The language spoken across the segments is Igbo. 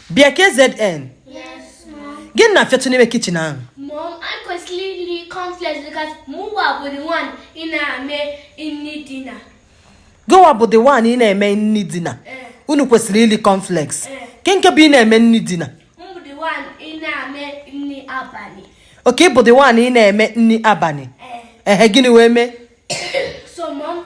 bịa KZN gịnị na-afịatụ n'ime kitchen ahụ Mom, anyị kwesịrị ili cornflakes because mụwa bụ the one na-eme nni dinner. gụwa bụ the one ị na-eme nni dinner Eh. unu kwesịrị ili cornflakes Eh. kee nke bụ ị na-eme nni dinner m bụ the one na-eme nni abani. okay ị bụ the one ị na-eme nni abani Eh. ehe gịnị wee mee So, Mom,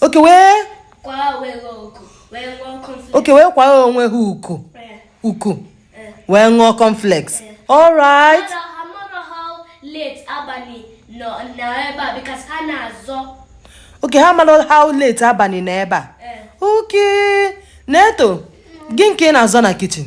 okay wee okay wee kwaa onwe ha uku uku wee ṅụọ cornflakes all right okay ha mara how late abani na ebe a eh. okay Neto gịnị ka ị na-azọ na kitchen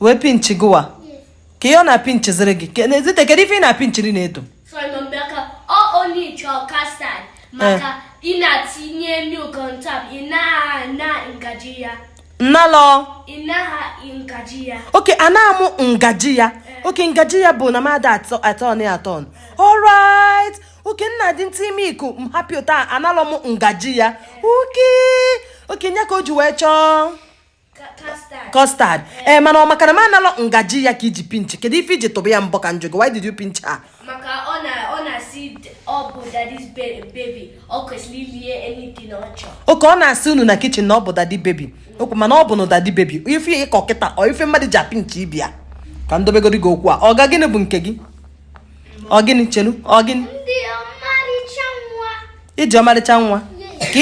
wee pinchi gụwa kee ihe ọ na-apinchiziri gị e Zite kedu ife ị na-apinchiri Neto nnalọ okay ana mụ ngaji ya okay ngaji ya bụ na mmadụ atọ atọ na atọ all right okay ị na-etinye milk m hapịa ụta analọ m ngaji ya okay okay nya ka o ji wee chọọ custard ee eh, mana ọ maka na m analọ ngaji ya ka i ji pinch kedu ife i ji tụba ya mbọ ka m jụọ gị why did you pinch her maka ọ na ọ na-asị ọ bụ daddy's baby ọ kwesịrị ilie anything ọ chọrọ okay ọ na-asị unu na kitchen na ọ bụ daddy baby okwu mana ọ bụ na daddy baby ife ị kọ kịta ọ ife mmadụ ji apinch ibe ya ka m dobegodi gị okwu a ọga gịnị bụ nke gị ọ gịnị chelu ọ gịnị i ji ọmarịcha nwa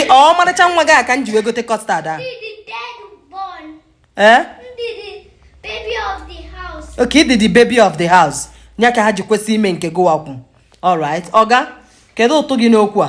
ka ọmarịcha nwa gị a ka m ji wee gote custard a ee okay ị dị the baby of the house ya ka ha ji kwesị ime nke gụwa kwu alright ọga kedu ụtụ gị n'okwu a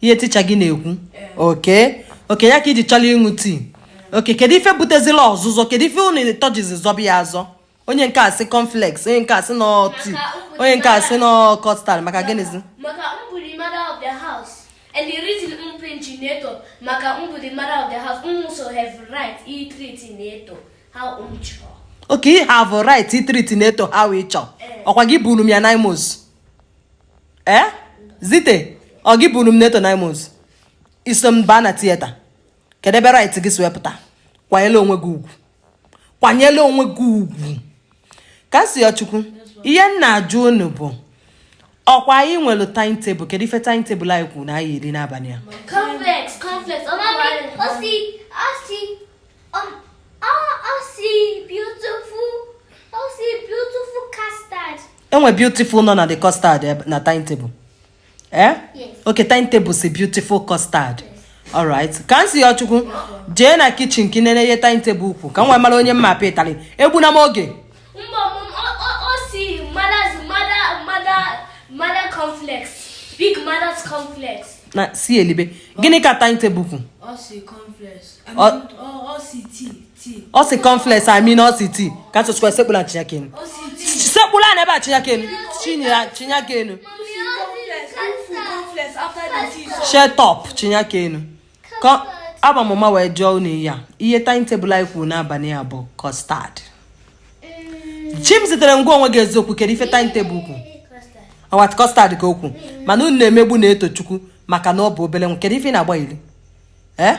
ihe teacher gị na-ekwu okay okay ya ka i ji chọrọ ịṅụ tea okay kedu ife butezila ọzụzọ kedu ife unu ịtọ jizi zọba ya azọ onye nke a sị cornflakes onye nke a sị no tea onye nke a sị no custard maka gịnịzi maka m bụ the mother of the house and the reason m pinchi Neto maka m bụ the mother of the house m also have right itreat Neto how m chọrọ okay ị have right itreat Neto how ị chọọ ọkwa gị buru m ya nine months ee eh? Zite ọ gị buru m Neto nine months i so m baa na theatre kedu ebe right gị si wee pụta kwanyela onwe gị ugwu kwanyela onwe gị ugwu Kamsiyochukwu ihe m na-ajụ unu bụ ọkwa anyị nwere time table kedu ife time table anyị kwuru na anyị eli n'abani a enwe beautiful nọ na the custard eh, na time table eh okay time table si beautiful custard alright Kamsiyochukwu jee na kitchen ka ị nene ihe time table kwu ka m wee mara onye m ma-apị ịtalị egbuna m oge Big mother's cornflakes. na si elibe gịnị ka time table kwu Ọ si cornflakes. I mean, ọ si tea. ọ sị cornflakes i mean ọ sị tea ka ntụtụkwa sekpulu ana chịnye aka enu sekpulu ana ebe a chịnye aka enu chịnye aka enu shut up chịnye aka enu agba m ụma wee jụọ unu ya ihe time table anyị kwuru n'abalị a bụ custard Chimzitere gwa onwe gị eziokwu kedu ife time table kwu ọwat custard ka o kwu mana unu na-emegbu Netochukwu maka na ọ bụ obele nwa kedu ife ị na-agba iri ee eh?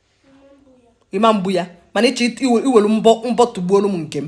ị ma mgbu ya mana ị chọ iwelu mbọ tụgbuolu m nke m